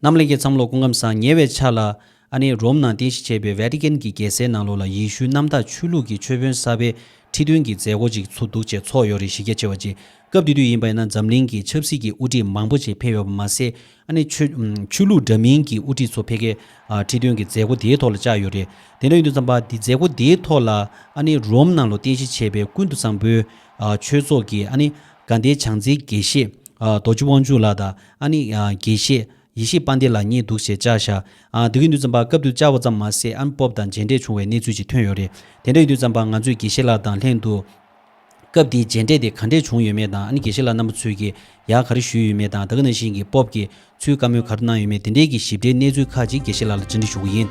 རྣམས་ལེན་གྱི་མཚམས་ལོ་སྐུ་ཁམས་བཟང་ཉེ་བའི་ཆ་ལ། ཨ་ནེ་རོམ་ནང་རྟེན་གཞི་བྱས་པའི Vatican གྱི་རྒྱལ་སའི་ནང་ལོགས་ལ་ཡེ་ཤུའི་རྣམ་དག་ཆོས་ལུགས་ཀྱི་མཆོད་དཔོན་གསར་པའི་ཁྲི་སྟོན་གྱི་མཛད་སྒོ་ཅིག་ཚུགས་འདུག་ཅེས་ཚོགས་ཡོ་རི་གཞི་རྒྱ་ཆེ་བ་ཅིག་སྐབས་དེ་དུས་ཡིན་པ་ཡིན་ན་འཛམ་གླིང་གི་ཆབ་སྲིད་ཀྱི་དབུ་ཁྲིད་མང་པོ་ཆེ་ཕེབས་ཡོད་པ་མ་ཟད་ཨ་ནེ། ཆོས་ལུགས་འདྲ་མིན་གྱི་དབུ་ཁྲིད་ཚོ་ཕེབས་ཁའི་ཁྲི་སྟོན་གྱི་མཛད་སྒོ་དེའི་ཐོག་ལ་བཅར་ཡོད་རེད། དེ་འདྲ་ཡིན་དུས་མཚམས་པ་དེ་མཛད་སྒོ་དེའི་ཐོག་ལ་ཨ་ནེ་རོམ་ནང་ལོགས་རྟེན་གཞི་བྱས་པའི་ཀུན་ཏུ་བཟང་པོའི་ཆོས་ཚོགས་ཀྱི་ཨ་ནེ་དགའ་ལྡན་བྱང་རྩེའི་དགེ་བཤེས་རྡོ་རྗེ་དབང་ཕྱུག་ལགས་དང། ཨ་ནི། དགེ་བཤེས། ཡེ་ཤེས་དཔའ་འདི་ལ་ཉེས་འདུག་ཞེས་བཅར་བཞག། དགེ་བསྐོས་འདུལ་བརྩམས་པ་སྐབས་དུས་བཅར་བ་ཙམ་མ་ཟད་ཨན་སྤོབས་དང་མཇལ་འཕྲད་བྱུང་བའི་གནས་ཚུལ་ཅིག་ཐོན་ཡོད་རེད། དེ་འདྲ་ཡི་འདུལ་བརྩམས་པ་ང་ཚོས་དགེ་བཤེས་ལགས་དང་ལྷན་དུ། སྐབས་དེའི་མཇལ་འཕྲད་དེ་ག་འདྲས་བྱུང་ཡོད་མེད་དང་ཨ་ནི་དགེ་བཤེས་ལགས་རྣམ་པ་ཚོས་ཀྱིས་ཡག་ག་རེ་ཞུས་ཡོད་མེད་དང་ད་ག་ནང་བཞིན་གྱི་སྤོབས་ཀྱིས་ཚུལ་དཀའ་མོལ་ག་རེ་གནང་ཡོད་མེད་དེ་འདྲས་ཀྱི་ཞིབ་ཕྲའི་གནས་ཚུལ་ཁག་ཅིག་དགེ་བཤེས་ལགས་ལ་འདྲི་འདྲི་ཞུ་གི་ཡིན།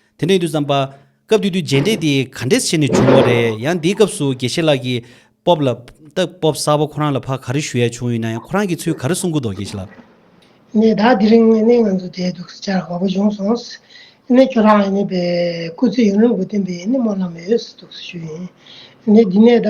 དེ་ནས་དུས་བརྩམས་པ། སྐབས་དུས་དུས་རྗེས་འབྲེལ་དེ་ག་འདྲས་བྱས་ནས་བྱུང་བ་རེད་ཡང་འདིའི་སྐབས་སུ་དགེ་བཤེས་ལགས་ཀྱིས། སྤོབས་ལ། སྟབས་སྤོབས་གསར་བ་ཁོ་རང་ལ་ཕ་ག་རེ་ཞུ་ཡ་བྱུང་ཡོད་ན་ཡང་ཁོ་རང་གིས་ཚུལ་ག་རེ་གསུང་གི་འདོག་དགེ་བཤེས་ལགས། ནས་ད་དེ་རིང་ཨེ་ནས་ང་ཚོ་བསྡད་འདུག་ཟེར་བྱར་དགའ་བོ་བྱུང་སོང། ཨེ་ནས་ཁྱོད་རང་ཨེ་ནས་པའི་སྐུ་ཚེ་ཡུན་རིང་པོ་བརྟན་པའི་ཨེ་ནས་སྨོན་ལམ་ཡོད་ཟེར་འདུག་ཞུ་ཡིན། ཨེ་ནས་འདི་ནས་ད།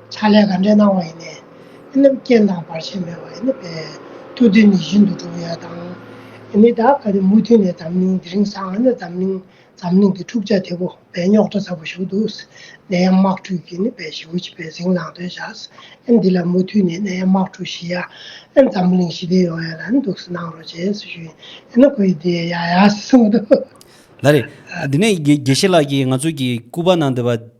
ཕྱག་ལས་ག་འདྲའི་གནང་བ་ཡིན། ཨེ་ནི་རྐྱེན་དང་བར་ཆད་མེད་པ་ཨེ་ནི་བས། ཐུགས་རྡུལ་ནི་བཞིན་དུ་འགྲུབ་ཡོད་དང། ཨེ་ནི་བདག་ག་ནི་མུ་མཐུད་ནས་འཛམ་གླིང་འདི་རིང་སང་ཨེ་ནི་འཛམ་གླིང་འཛམ་གླིང་འདི་འཁྲུག་ཆ་དེ་པོ་བས་རྙོག་དྲ་ཚ་པོ་ཞུགས་འདུག་ནད་ཡམས་དམག་འཁྲུག་གིས་ནི་བས་ཞི་བོ་བྱེད་པའི་ཟིང་ལངས་དོན་བྱ། ཨེ་འདི་ལ་མུ་མཐུད་ནས་ནད་ཡམས་དམག་འཁྲུག་ཞི་ཡ། ཨེ་འཛམ་གླིང་ཞི་བདེ་ཡོང་ཡ་ལ་ནི་འདུག་སི་གནང་རོགས་བྱས་སི་ཞུ། ཨེ་ནི་ཁོ་ཡི་དེ་ཡ་ཡ་སི་གསུངས་འདུག། ལ་རེད། དེ་ནས་དགེ་བཤེས་ལགས་ཀྱིས་ང་ཚོ་གི་སྐུ་པར་ནང་འདི་པར།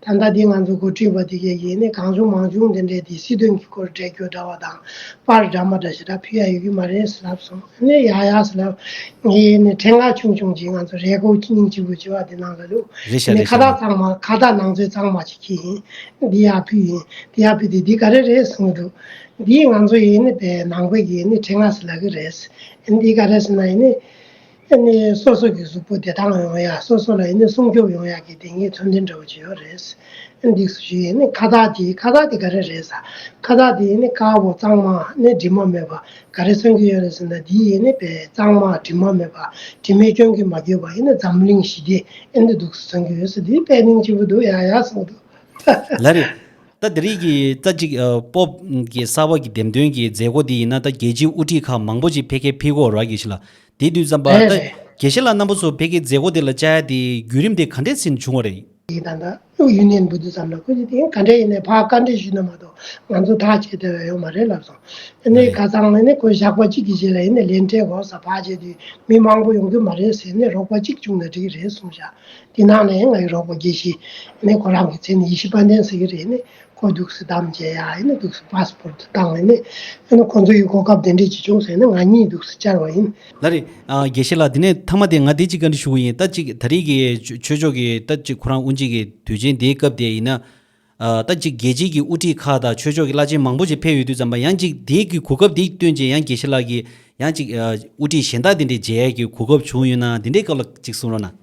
ད་ལྟ་འདི་ང་ཚོ་འགོ་ཁྲིད་པ་དེ་གས་ཡེ་ནས་གང་བྱུང་མང་བྱུང་འདི་འདྲའི་དེ་སྲིད་དོན་གྱི་སྐོར་འགྲེལ་བརྗོད་འདྲ་བ་དང་པར་འདྲ་མ་འདྲ་ཞེ་དྲག་ཕུལ་ཡ་ཡོད་ཀྱི་མ་རེད་ཟེར་ལབ་སོང་ཨ་ནས་ཡག་ཡག་ཟེར་ལབ། ངས་ཡེ་ནས་འཕྲེད་ངག་ཆུང་ཆུང་གཅིག་ང་ཚོ་རེས་སྒོ་ཁྱི་སྙིང་གཅིག་པོ་བྱེད་པ་དེ་གནང་དགོས་འདུག་རེད་ཤག་ཡེ་ནས་རེད་ཁ་ཤག་བཏགས་གཙང་མ་ཁ་བཏགས་ནང་ཚོད་གཙང་མ་བྱེད་ཀྱི་ཡིན། འདི་ཡག་ཕུལ་ཡིན་དེ་ཡག་ཕུལ་དེ་འདི་ག་རེ་རེད་གསུང་གི་འདུག་འདིས་ང་ཚོ་ཡེ་ནས་པའི་ནང་པའི་ཡེ་ནས་འཕྲེད་ངག་ཟེར་ལབ་ཀྱི་རེད། འདི་ག་རེད་ཟེར་ན་ཡེ་ནས། ཨེ་ནི་སོ་སོ་གི་གཟུགས་པོ་དེ་དག་ལ་ཡང་ཡ་སོ་སོ་ལ་ཨེ་ནི་སྲུང་སྐྱོབ་ཡོང་ཡག་གི་དེ་གཉིས་མཚོན་དོན་འདྲ་བོ་བྱེད་ཡོད་རེད། ཨེ་འདི་སུ་ཞིག་ཨེ་ནི་ཁ་བཏགས་དེ་ཁ་བཏགས་དེ་ག་རེ་རེད་ས་ཁ་བཏགས་དེ་ཨེ་ནི་དཀར་བོ་གཙང་མ་ཨེ་ནི་དྲི་མ་མེད་པ་ག་རེ་མཚོན་གྱི་ཡོད་རེད་ཟེར་ན་འདི་ཨེ་ནི་བལ་གཙང་མ་དྲི་མ་མེད་པ་དྲི་མའི་སྐྱོན་གྱིས་མ་གྱོས་པ་ཨེ་ནི་འཛམ་གླིང་ཞི་བདེ་ཨེ་འདི་སྡུག་སུ་མཚོན་གྱི་ཡོད་ས་འདི་དཔལ་གླིང་ལྕི་བོ་འདུག་ཡ་ཡ་སོང་འདུག་ཧ་ཧ། ལ་རེད། ད་འདི་རིགས་ཀྱིས་རྩ་གཅིག་སྤོབས་ཀྱི་གསར་བ་གྱི་འདེམས་ཐོན་གྱི་མཛད་སྒོ་འདི་ཡིན་ན་ད་རྒྱལ་སྤྱིའི་དབུ་ཁྲིད་ཁག་མང་པོ་ཅིག་ཕེ་ཁེ་ཕི་ཁོ་ར་གྱི་ཞིག་ལ་དེ་དུས་ཛམ་པ་རེད་རེད། དགེ་བཤེས་ལགས་རྣམ་པ་ཚོ་བོད་ཀྱི་མཛད་སྒོ་དེ་ལ་བཅར་ཡ་དེ་བརྒྱུད་རིམ་དེ་ག་འདྲས་ཟིན་བྱུང་བ་རེད། ཡི་དམ་དང་དབུས་ཡུན་ནན་འབུད་དུ་བསམ་ན་ཁོ་ཚོས་དེ་ག་འདྲས་ཡིན་ནས་ཕར་བཀའ་འདྲི་ཞུས་ན་མ་གཏོགས་ང་ཚོ་ཐག་བཅད་འདོད་ཡ་ཡོད་མ་རེད་ལབ་སོང། ཨ་ནི་ག་ཚང་མས་ནི་ཁོ་བཞག་པ་གཅིག་གི་རྗེས་ལ་ཡིན་ནས་ལན་སྤྲད་གོ་ས་བག་བྱས་དུས་མི་མང་པོ་ཡོང་གི་མ་རེད་ཟེར་ནས་རོགས་པ་གཅིག་བཅུག་ན་འགྲིག་རེད་གསུངས་བཞག་དེ་ནང་ནས་ང་ཡི་རོགས་པ་དགེ་བཤེས་ཨ་ནི་ཁོ་རང་གི་མཚན་ནི་ཡེ་ཤེས་དཔལ་ལྡན་ཟེར་གྱི་རེད་ནས་ཁོ་རྡུགས་སུ་བདམས་རྗེས་ཡ་ཡིན་ན་རྡུགས་སུ་ཕཱས་སྤོར་དུ་བཏང་བས་ནས་ཡང་ན་ཁོང་ཚོ་ཡིས་གོ་སྐབས་དེ་འདྲས་ཅིག་བྱུང་ཟེར་ན་ང་གཉིས་རྡུགས་སུ་བཅར་བ་ཡིན། ད་རེས། དགེ་བཤེས་ལགས་དེ་ནས་མཐའ་མ་དེ་ང་དེ་ཅིག་བཀའ་འདྲི་ཞུ་གི་ཡིན་ད་ཅིག་ད་རེས་ཀྱི་ཆོས་ཕྱོགས་ཀྱི་ད་ཅིག་ཁོ་རང་དབུ་འབྱེད་ཀྱི་དུས་ཆེན་དེའི་སྐབས་དེ་ཡིན་ན། ད་ཅིག་རྒྱལ་སྤྱིའི་ཀྱི་དབུ་ཁྲིད་ཁག་དང་ཆོས་ཕྱོགས་ཀྱི་བླ་ཆེན་མང་པོ་ཅིག་ཕེབས་ཡོད་དུས་ཙམ་པ་ཡང་ཅིག་དེའི་ཀྱི་གོ་སྐབས་དེ་སྟོན་རྗེས་ཡང་དགེ་བཤེས་ལགས་ཀྱིས་ཡང་ཅིག་དབུ་ཁྲིད་གཞན་དག་དེ་འདྲས་མཇལ་ཡས་ཀྱི་གོ་སྐབས་བྱུང་ཡོད་ན་དེ་འདྲའི་སྐབས་ལ་ཅིག་གསུང་རོགས་གནང།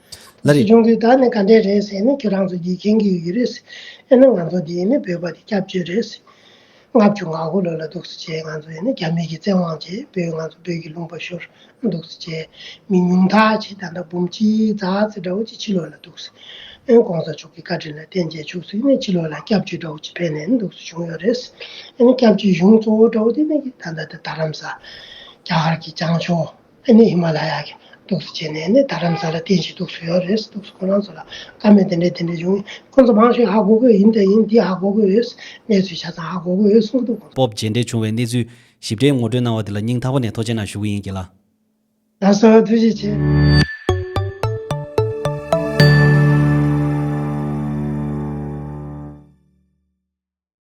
ལ་རེད། ཆུང་དུས་ད་ནི་ག་འདྲས་རེད་ཟེར་ནས་ཁྱོད་རང་ཚོ་དགྱེས་མཁན་གྱི་ཡོད་རེད། ཨེ་ན་ང་ཚོ་འདི་ནི་བོད་པ་དེ་སྐྱབས་བཅོལ་རེད། ལྔ་བཅུ་ང་དགུ་ལོ་ལ་སྡུག་ས་བྱས་ང་ཚོ་ཨེ་ན་རྒྱ་མི་གྱི་བཙན་དབང་བྱས་བོད་ང་ཚོ་བོད་ཀྱི་ལུང་པ་ཤོར་སྡུག་ས་བྱས། མི་ཉུང་ཐག་ཆེ་ད་ལྟ་འབུམ་གཅིག་རྫ་རྩི་འདྲ་བོ་ཅིག་ཕྱི་ལོག་ལ་འདུག་ཟེར། ཨེ་ན་གོང་ས་མཆོག་གི་བཀའ་དྲིན་ལ་བརྟེན་རྗེས་ཕྱུགས་ཟོས་ནས་ཕྱི་ལོག་ལ་སྐྱབས་བཅོལ་འདྲ་བོ་ཅིག་ཕེབས་ནས་ཨེ་ན་འདུག་ས་བྱུང་ཡོད་རེད། ཨེ་ན་སྐྱབས་བཅོལ་གཞུང་གཙོ་བོ་འདྲ་བོ་དེ་ནི་ད་ལྟ་དར་རམ་ས། རྒྱ་གར་གྱི་བྱང་ཕྱོགས། ཨ་ནི་ཧི་མ་ལ་ཡ་གི་གདུགས་སུ་བྱས་ནས་ནི་ད་རམ་ས་ལ་བསྟན་ཞིང་གདུགས་སུ་ཡོད་རེད་གདུགས་སུ་ཁོ་རང་ཚོ་ལ་ཀ་མེད་དེ་འདྲས་དེ་འདྲས་བྱུང་ཁོ་ཚོ་མང་ཤོས་ཧ་གོ་གོ་ཡིན་ད་ཡིན་འདི་ཧ་གོ་གོ་ཡོད་གནས་ཚུལ་ཆ་ཚང་ཧ་གོ་གོ་ཡོད་གསུངས་གི་འདུག། སྤོབས་རྗེས་འབྲེལ་བྱུང་བའི་གནས་ཚུལ། ཞིབ་ཕྲའི་ངོ་སྤྲོད་གནང་བ་དེ་ལ་སྙིང་ཐག་པ་ནས་ཐོ་ཆེ་ན་ཞུ་གི་ཡིན་གྱི་ལ། ད་གསོལ་བ་ཐུགས་རྗེ་ཆེ།